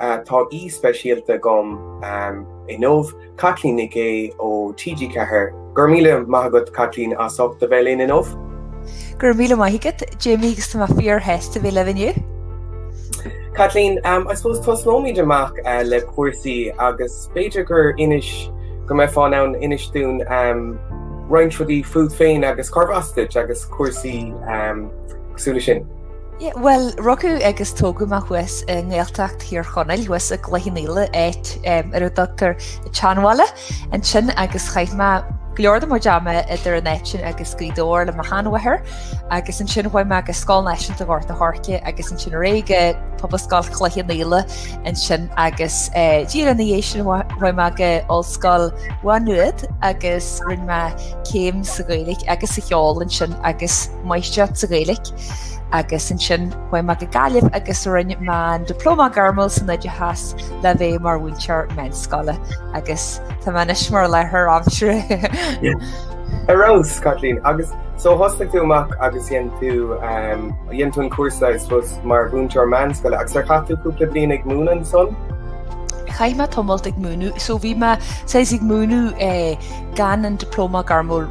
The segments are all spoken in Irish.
Tá aoi speisialta agam inniu, Caitlín Nic Aoidh ó TG4. Go raibh míle maith agat, Caitlín, as ucht a bheith linn inniu. Go raibh míle maith agat, Jamie, agus tá mé fíorshásta a bheith libh inniu. Caitlín, I suppose tosnóimid amach le cúrsaí agus b'fhéidir gur inis go mbeifeá in ann inis dúinn roinnt rudaí fút féin agus cárb as duit agus cúrsaí cosúil leis sin. Bhuel, rugadh agus tógadh mé thuas i nGaeltacht Thír Chonaill, thuas i gCloich Cheann Fhaola, áit ar a dtugtar an tSeanbhaile ansin agus chaith mé go leor de mo chuid ama idir an áit sin agus Gaoth Dobhair le mo sheanmháthair agus ansin chuaigh mé go Scoil Náisiúnta Ghort an Choirce agus ansin ar aghaidh go Pobalscoil Chloich Cheann Fhaola ansin agus díreach ina dhiaidh sin chuaigh mé go Ollscoil Mhá Nuad agus rinne mé céim sa Ghaeilge agus sa cheol ansin agus máistreacht sa Ghaeilge. agus ansin chuaigh mé go Gaillimh agus rinne mé an Diplóma Gairmiúil san Oideachas le bheith mar mhúinteoir meánscoile agus tá mé anois mar láithreoir aimsire. Ar fheabhas Caitlín agus so thosaigh tú amach agus dhéan tú um, dhéan tú an cúrsa I suppose mar mhúinteoir meánscoile agus ar chaith tú cúpla bliain ag múineadh ansan? chaith mé tamallt ag múineadh, so bhí mé ag múineadh eh, gan an dioplóma gairmiúil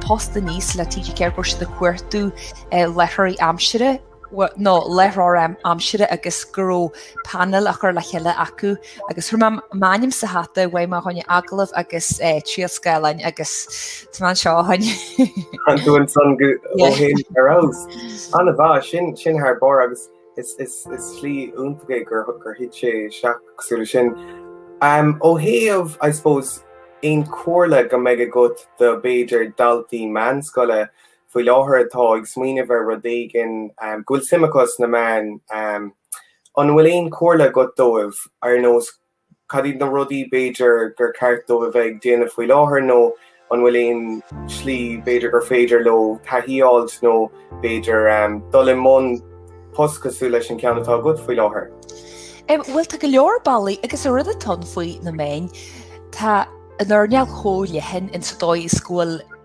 post aníos le TG4 go raibh siad ag cuartú láithreoirí aimsire, nó láithreoir aimsire agus go raibh painéal á chur le chéile acu agus chuir mé m'ainm sa hata chuaigh mé chuig agallamh agus triail scáileáin agus tá mé anseo ó shin. Tá tú ansan ó shin ar fheabhas. An-mhaith, sin thar barr agus. Is slí iontach é gur thit sé isteach cosúil leis sin. Ó thaobh, I suppose, aon chomhairle go mbeadh agat do, b'fhéidir, daltaí meánscoile faoi láthair atá ag smaoineamh ar rud éigin, go bhfuil suim acu sna meáin, an bhfuil aon chomhairle agat dóibh ar nós Cad iad na rudaí, b'fhéidir, gur ceart dóibh a bheith ag déanamh faoi láthair nó an bhfuil aon slí, b'fhéidir, gur féidir leo taithí a fháilt nó, b'fhéidir, dul i mbun post cosúil leis an ceann atá agat faoi láthair? Bhuel, tá go leor bealaí agus an rud atá ann faoi na meáin. Tá an earnáil chomh leathan insa dóigh is go bhfuil.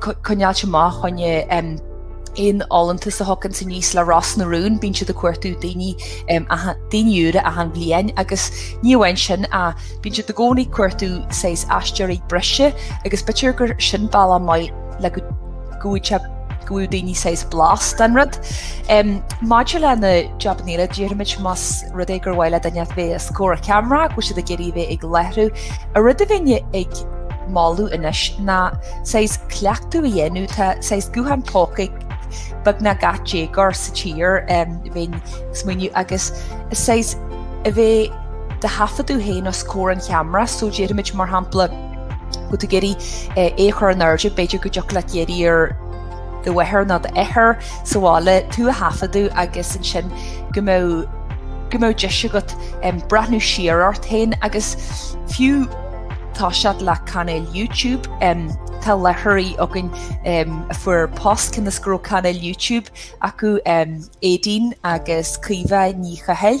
coinneáilt amach do choinne aon fholúntas a thagann aníos le Ros na Rún, bíonn siad ag cuartú daoine daoine úra achan bhliain agus ní amháin sin ach bíonn siad i gcónaí ag cuartú saghas aisteoirí breise agus b'fhéidir gur sin bealach maith le go bhfaighidh go bhfaighidh daoine saghas blas den rud. Um, Maidir le na jobanna eile, déarfaimid más rud é gur mhaith le duine bheith os comhair ceamara, go bhfuil siad ag iarraidh bheith ag láithriú An rud a bhínn ag moladh anois ná saghas cleachtadh a dhéanamh, tá saghas gutháin póca ag beagnach gach déagóir sa tír, bhínn ag smaoineamh, agus saghas a bheith do do thaifeadadh féin os comhair an cheamara, so déarfaimid mar shampla go dtig leat iarraidh é a chur in airde b'fhéidir go dtiocfadh leat iarraidh ar do mháthair nó d'athair, sa bhaile, tú a thaifeadadh agus ansin go mbeadh, go mbeadh deis agat breathnú siar ort féin agus fiú tosú le cainéal YouTube, tá láithreoirí againn a fuair post cionn is go raibh cainéal YouTube acu, Éadaoin agus Caoimhe Ní Chathail.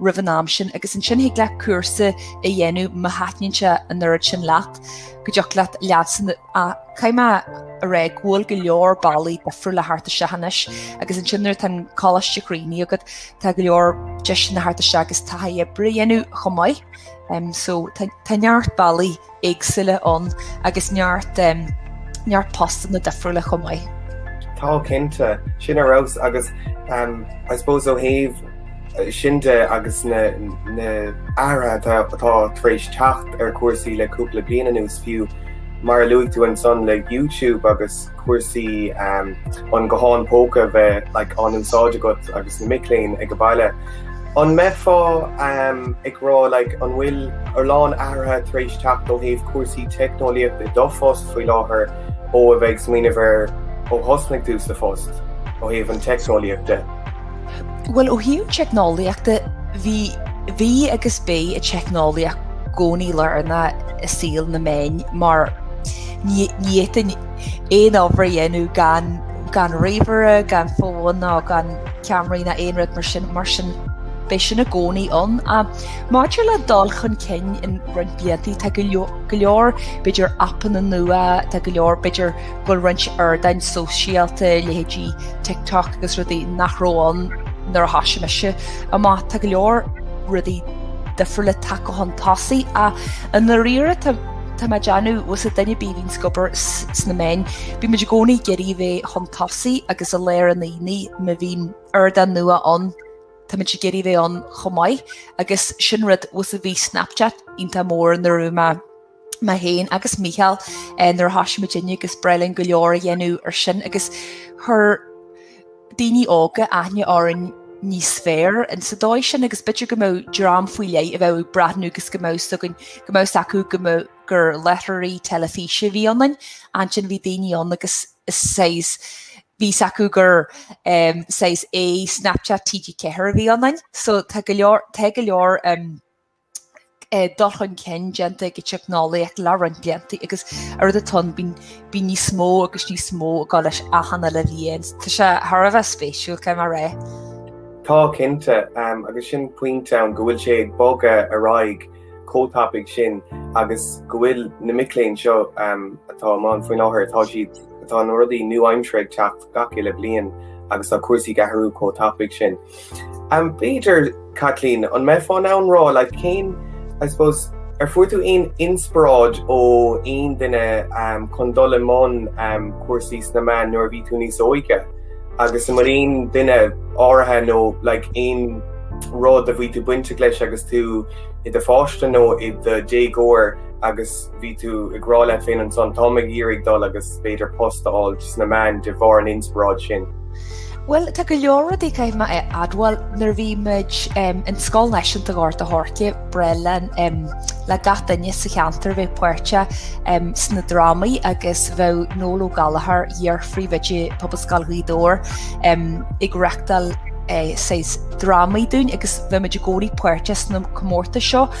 roimh an am sin agus ansin thig leat cúrsa a dhéanamh má thaitníonn sé an oiread sin leat go dtiocfadh leat leatsa, caithfidh mé a rá go bhfuil go leor bealaí difriúla le theacht isteach anois agus ansin nuair atá an coláiste críochnaithe agat tá go leor deiseanna theacht isteach agus taithí oibre a dhéanamh chomh maith um, so tá neart bealaí éagsúla ann agus neart neart postanna difriúla chomh maith. Tá, cinnte, sin ar fheabhas agus I suppose ó thaobh sin de agus na na athruithe atá tar éis teacht ar chúrsaí le cúpla bliain anuas fiú mar a luaigh tú ansan le YouTube agus cúrsaí an ghutháin póca a bheith á n-úsáid agat agus na mic léinn ag an mbaile. An mbeifeá ag rá an bhfuil a lán athruithe tar éis teacht ó thaobh cúrsaí teicneolaíochta i do phost faoi láthair ó a bheith ag smaoineamh ar ó thosnaigh tusa sa phost ó thaobh an teicneolaíocht de? Bhuel ó thaobh an teicneolaíochta bhí bhí agus beidh an teicneolaíocht i gcónaí lárnach i saol na meán mar Ní fhéadfainn aon obair a dhéanamh gan ríomhaire, gan fón nó gan ceamaraí ná aon rud mar sin, mar sin beidh sin i gcónaí ann. Maidir le dul chun cinn i roinnt blianta, tá go leor, b'fhéidir, aipeanna nua, tá go leor, b'fhéidir, go bhfuil roinnt ardáin sóisialta, leithéidí TikTok agus rudaí, nach raibh ann nuair a thosaigh mise amach. Tá go leor rudaí difriúla tagtha chun tosaigh ach i ndáiríre, Tá mé ag déanamh, más duine bí, a bhíonn ag obair sna meáin. Bíonn muid i gcónaí ag iarraidh bheith chun tosaigh agus a léiriú do dhaoine má bhíonn ardán nua ann tá muid ag iarraidh bheith ann chomh maith agus sin rud fosta, bhí Snapchat iontach mór nuair a bhí mé féin agus Mícheál nuair a thoisigh muidinne agus d'éirigh linn go leor a dhéanamh ar sin agus chuir daoine óga aithne orainn níos fearr sa dóigh sin agus b'fhéidir go mbeadh dream faoi leith a bheadh ag breathnú agus go mbeadh a fhios againn, go mbeadh a fhios acu go mbeadh, gur láithreoirí teilifíse a bhí ionainn. Ansin bhí daoine ann agus saghas, bhí a fhios acu gur saghas, a, Snapchat, TG4 a bhí ionainn. So tá go leor, tá go leor. dul chun cinn déanta ag an teicneolaíocht le roinnt blianta agus an rud atá ann bíonn níos mó agus níos mó ag dul leis achan uile bhliain. Tá sé thar a bheith spéisiúil cé mar é. Tá, cinnte, agus sin pointe ann go bhfuil sé ag bogadh ar aghaidh chomh tapaidh sin agus go bhfuil na mic léinn seo atá i mbun faoi láthair, tá siad, tá na rudaí nua-aimseartha ag teacht gach uile bliain agus tá cúrsaí ag athrú chomh tapaidh sin. B'fhéidir, Caitlín, an mbeifeá in ann rá, like, cén, I suppose, ar fuair tú aon inspioráid ó aon duine chun dul i mbun cúrsaí sna meáin nuair a bhí tú níos óige? Agus an bhfuil aon duine áirithe nó, like, aon rud a bhí tú bainteach leis agus tú i do pháiste nó i do dhéagóir agus, bhí tú ag rá leat féin ansan, táim ag iarraidh dul agus b'fhéidir post a fháil sna meáin de bharr an inspioráid sin. Bhuel, tá go leor rudaí caithfidh mé a admháil. Nuair a bhí muid i Scoil Náisiúnta Ghort a' Choirce, ba bhreá le le gach duine sa cheantar a bheith páirteach sna drámaí agus bheadh Noel Ó Gallchóir, iar-phríomhoide Pobalscoil Ghaoth Dobhair, ag reachtáil saghas drámaí dúinn agus bhí muid i gcónaí páirteach sna comórtais seo.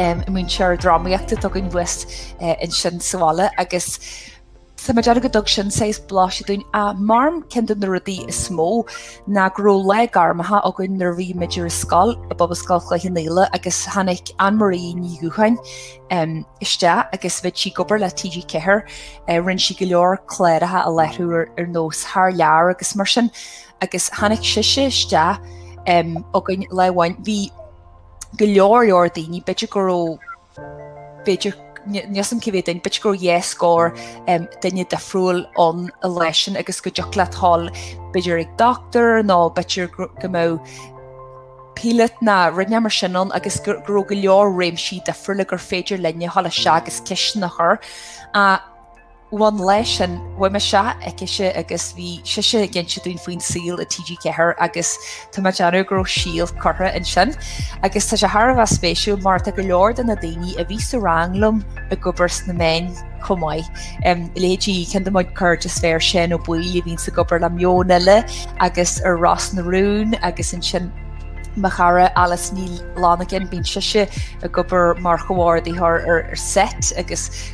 i muintir drámaíochta Dtuigeann Tú thuas ansin sa bhaile agus tá mé ag déanamh go dtug sin saghas blaiseadh dúinn ach measaim ceann de na rudaí is mó ná go raibh lá gairmeacha againn nuair a bhí muid ar an scoil i bPobalscoil Chloich Cheann Fhaola agus tháinig Anne Marie Ní Dhubhcháin isteach agus bhí sí ag obair le TG4 rinne sí go leor cláracha a láithriú ar nós Thar Lear agus mar sin agus tháinig sise isteach againn lá amháin bhí go leor leor daoine b'fhéidir go raibh b'fhéidir níos cibé duine b'fhéidir go raibh dhá scór duine difriúil ann an lá sin agus go dtiocfadh leat a ghabháil b'fhéidir ag dochtúir nó b'fhéidir go mbeadh píolóta nó rud inteacht mar sin ann agus go raibh go leor réimsí difriúla gur féidir linn a ghabháil isteach agus ceisteanna a chur a Bhuel an lá sin, chuaigh mé isteach aicise agus bhí sise ag inse dúinn faoin saol i TG4 agus tá mé ag déanamh go raibh síol curtha ansin. Agus tá sé thar a bheith spéisiúil mar tá go leor de na daoine a bhí sa rang liom ag obair sna meáin chomh maith. Leithéidí ceann de mo chuid cairde is fearr, Seán Ó Baoill a bhíonns ag obair le Meon Eile agus ar Ros na Rún agus ansin mo chara Alice Ní Fhlannagáin, bíonn sise ag obair mar chomhordaitheoir ar set agus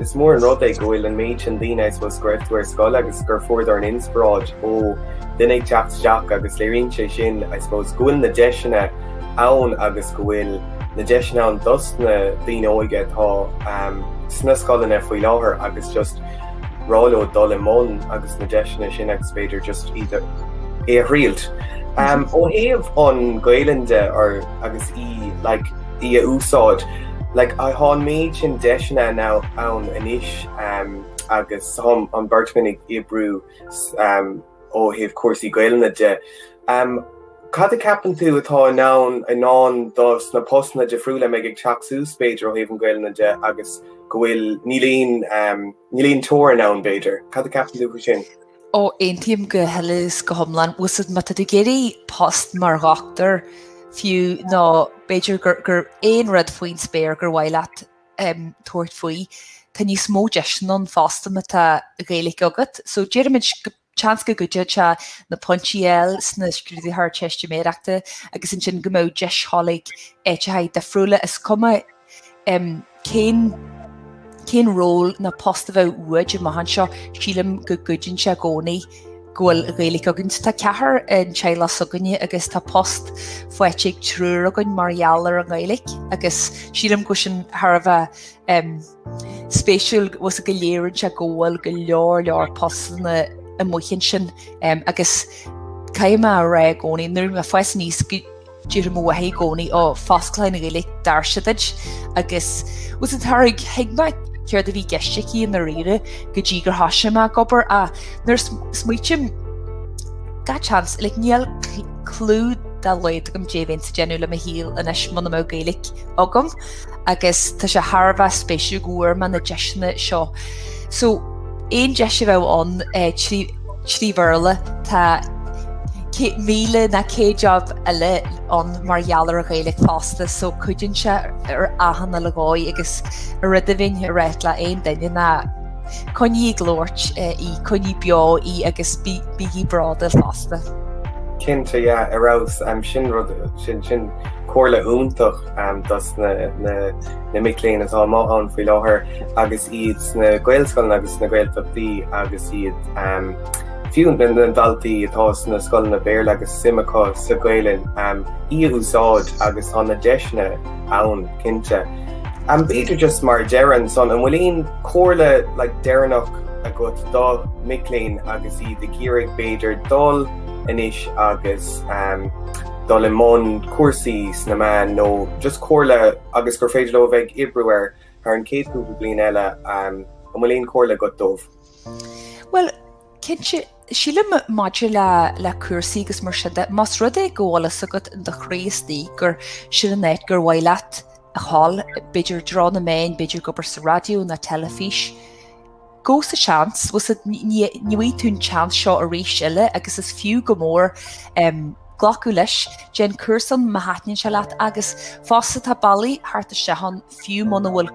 Is mór an rud é go bhfuil an méid sin daoine I suppose go raibh tú ar scoil agus gur fuair dornán inspioráid ó duine ag teacht isteach agus léiríonn sé sin I suppose go bhfuil na deiseanna ann agus go bhfuil na deiseanna ann dos na daoine óige atá sna scoileanna faoi láthair agus just rá leo dul i mbun agus na deiseanna sin agus b'fhéidir just iad a thriailt. Ó thaobh an Gaelainn de agus í like í a úsáid. Like tá an méid sin deiseanna ann anois agus tá an beirt againn ag oibriú ó thaobh cúrsaí Gaelainne de. Cad a ceapann tú atá i ndán i ndán do sna postanna difriúla a bheidh ag teacht suas b'fhéidir ó thaobh an Gaelainne de agus go bhfuil níl aon níl aon teorainn ann b'fhéidir. Cad a ceapann tú faoi sin? Ó, aontaím go huile is go hiomlán. Bhuel, so má tá tú ag iarraidh post mar dhochtúir, fiú, nó b'fhéidir gur, gur aon rud faoin spéir gur mhaith leat tabhairt faoi, tá níos mó deiseanna ann fosta má tá Gaeilge agat. So déarfaimid, seans go gcuideoidh sé na pointí a fháil sna scrúduithe Ardteistiméireachta agus ansin go mbeadh deis a ghoil ag áiteachaí difriúla, is cuma Cén cén ról na post a bheith uait amach anseo? Sílim go gcuideann sé i gcónaí go bhfuil Gaeilge againn. Tá ceathrar i dteaghlach s'againne agus tá post faighte ag triúr againn mar gheall ar an nGaeilge agus sílim go bhfuil sin thar a bheith spéisiúil agus go léiríonn sé go bhfuil go leor leor postanna amuigh ansin agus caithfidh mé a rá i gcónaí nuair a bhí mise níos Déarfadh mo mháthair i gcónaí ó fosclóidh an Ghaeilge doirse duit agus is ar éigean a thuig mé céard a bhí i gceist aici i ndáiríre go dtí gur thoisigh mé ag obair ach nuair smaoitim gach seans like níl clú dá laghad agam caidé a bheinnse ag déanamh le mo shaol anois muna mbeadh Gaeilge agam agus tá sé thar a bheith spéisiúil go bhfuair mé na deiseanna seo. So aon deis a bheadh ann Trí Bhéarla, tá 1,000 nó 100 job eile ann mar gheall ar an Ghaeilge fosta, so cuidíonn sé ar achan uile dhóigh agus a rud amháin a ráit le aon duine ná coinnigh ag labhairt í, coinnigh beo í agus bígí bródúil fosta. Cinnte, yeah, ar fheabhas. Sin rud, sin comhairle iontach. dos na mic léinn atá amuigh ann faoi láthair agus iad sna Gaelscoileanna agus sna Gaeltachtaí agus iad fiú na daltaí atá sna scoileanna Béarla agus suim acu sa Ghaelainn í a úsáid agus tá na deiseanna ann cinnte. B'fhéidir just mar deireadh ansan, an bhfuil aon chomhairle like deireanach agat do mic léinn agus iad ag iarraidh b'fhéidir dul anois agus dul i mbun cúrsaí sna meáin nó just comhairle agus gur féidir leo a bheith ag oibriú air thar an chéad chúpla bliain eile, an bhfuil aon chomhairle agat dóibh? Bhuel, cinnte, sílim maidir le le cúrsaí agus mar sin de, más rud é go bhfuil a fhios agat in do chroí istigh gur sin an áit gur mhaith leat a ghoil, b'fhéidir i dtreo na meáin, b'fhéidir ag obair sa raidió, nó teilifís, Gabh sa seans, ní bhfaighidh tú an tseans seo arís eile agus is fiú go mór glacadh leis, déan cúrsaí má thaitníonn sé leat agus fosta tá bealaí thart isteach ann fiú muna bhfuil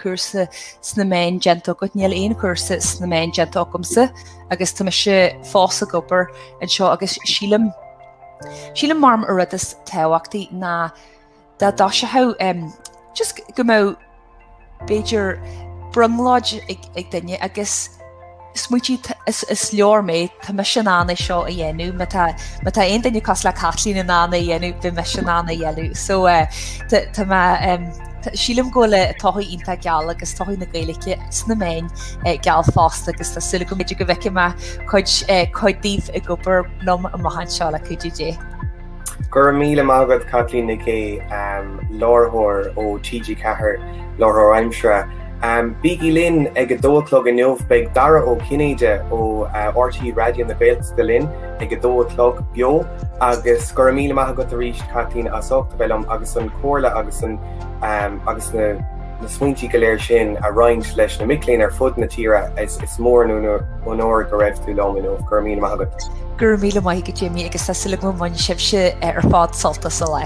cúrsa sna meáin déanta agat, níl aon chúrsa sna meáin déanta agamsa agus tá mise fós ag obair anseo agus sílim, sílim gurb é an rud is tábhachtaí ná, An dásacht just go mbeadh b'fhéidir brionglóid ag duine agus smaoití, is leor mé, tá mise in ann é seo a dhéanamh, má tá aon duine cosúil le Caitlín in ann é a dhéanamh, beidh mise in ann é a dhéanamh. So tá mé, sílim go bhfuil todhchaí iontach geal agus todhchaí na Gaeilge sna meáin geal fosta agus tá súil agam b'fhéidir go bhfeicfidh mé cuid daoibh ag obair liom amach anseo le cuidiú Dé. Go raibh míle maith agat Caitlín Nic Aoidh, Láithreoir ó TG4, Láithreoir Aimsire. Bígí linn ag a dó a chlog inniu, beidh Dara Ó Cinnéide ó RTÉ Raidió na Gaeltachta linn ag a dó a chlog beo agus go raibh míle maith agat arís Caitlín as ucht a bheith liom agus an chomhairle agus an agus na na smaointí go léir sin a roinnt leis na mic léinn ar fud na tíre. Is mór an onóir go raibh tú liom inniu. Go raibh míle maith agat. Go raibh míle maith agat Jimmy agus tá súil agam go mbainfidh sibhse ar fad sult as an lá.